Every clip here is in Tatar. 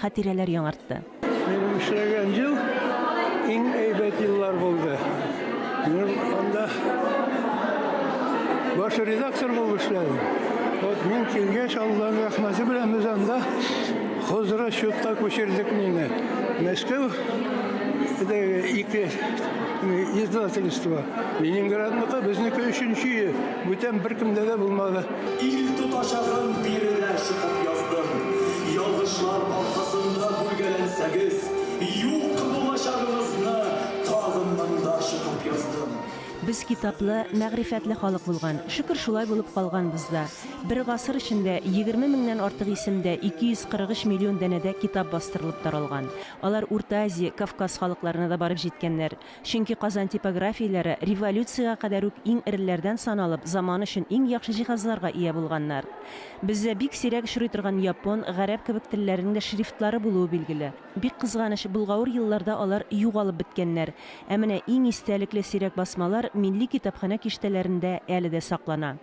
хатирәләр яңартты. Минем эшләгән ел иң әйбәт еллар булды. Мин анда баш редактор булып эшләдем. Вот мин килгәч, Алланың рәхмәте белән без анда хозрасчетка күчердек мине. Мәскәү ике издательство. Ленинградныкы, безнеке өченче, бүтән беркемдә дә булмады. Ил тотачагын биредә чыгып яздым. Ялгышлар аркасында бүлгәләнсәгез, юк булачагыгызны тагын монда чыгып яздым. Без китаплы, мәгърифәтле халык булган. Шөкер, шулай булып калганбыз да. Бер гасыр эчендә егерме меңнән артык исемдә 243 миллион данәдә китап бастырылып таралган. Алар Урта Азия, Кавказ халыкларына да барып җиткәннәр. Чөнки Казан типографияләре революциягә кадәр үк иң эреләрдән саналып, заманы өчен иң яхшы җиһазларга ия булганнар. Бездә бик сирәк очрый торган япон, гарәп кебек телләрнең дә шрифтлары булуы билгеле. Бик кызганыч, болгавыр елларда алар югалып беткәннәр. Ә менә иң истәлекле сирәк басмалар милли китапханә киштәләрендә әле дә саклана.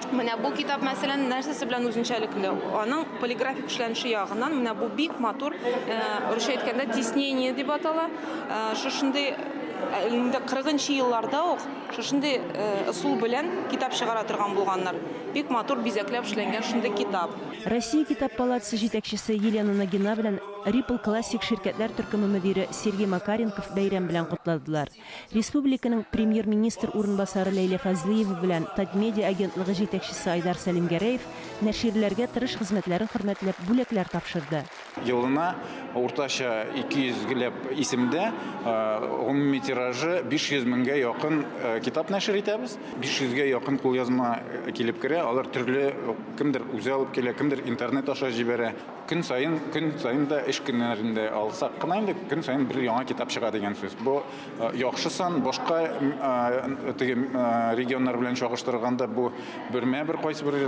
Менә бу китап, мәсәлән, нәрсәсе белән үзенчәлекле? Аның полиграфик эшләнеше ягыннан менә бу бик матур, э, русча әйткәндә тиснение дип атала. Э, шушындый э, инде 40 нчы елларда ук шушындый ысул белән китап чыгара торган булганнар. Бик матур бизәкләп эшләнгән шундый китап. Россия китап палатасы җитәкчесе Елена Нагина белән Ripple Classic ширкәтләр төркеме мөдире Сергей Макаренков бәйрәм белән котладылар. Республиканың Премьер-министр урынбасары Ләйлә Фазлыева белән Татмедиа агентлыгы җитәкчесе Айдар Сәлимгәрәев нәширләргә тырыш хезмәтләрен хөрмәтләп бүләкләр тапшырды. Елына уртача 200 геләп исемдә, гомуми тиражы 500 меңгә якын китап нәшер итәбез. 500 гә якын кулъязма килеп керә, алар төрле, кемдер үзе алып килә, кемдер интернет аша җибәрә. Көн саен, көн саен да эш көннәрендә алсак кына инде көн саен бер яңа китап чыга дигән сүз. Бу э, яхшы сан, башка э, теге э, регионнар белән чагыштырганда бу бермә бер кайсы бер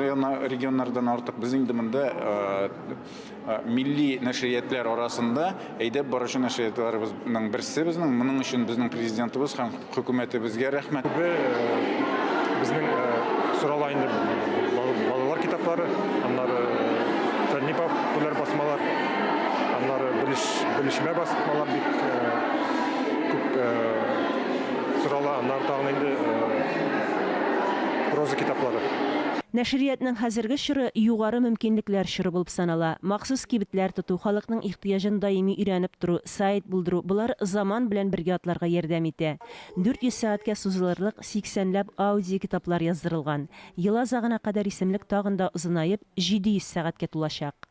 регионнардан артык. Без инде монда милли нәшриятләр арасында Әйдәп баручы нәшриятларыбызның берсе безнең. Моның өчен безнең президентыбыз һәм хөкүмәтебезгә рәхмәт. Күбе безнең сорала инде балалар китаплары, аннары фәнни популяр басмалар, аннары белешмә басмалар бик күп сорала, аннары тагын инде проза китаплары. Нәшриятның хәзерге чоры югары мөмкинлекләр чоры булып санала. Махсус кибетләр тоту, халыкның Тыяҗын даими өйрәнеп тору, сайт булдыру, болар заман белән бергә атларга ярдәм итә. 400 сәгатькә сузылырлык сиксәнләп аудиокитаплар яздырылган. Ел азагына кадәр исемлек тагын да озынаеп, 700 сәгатькә тулачак.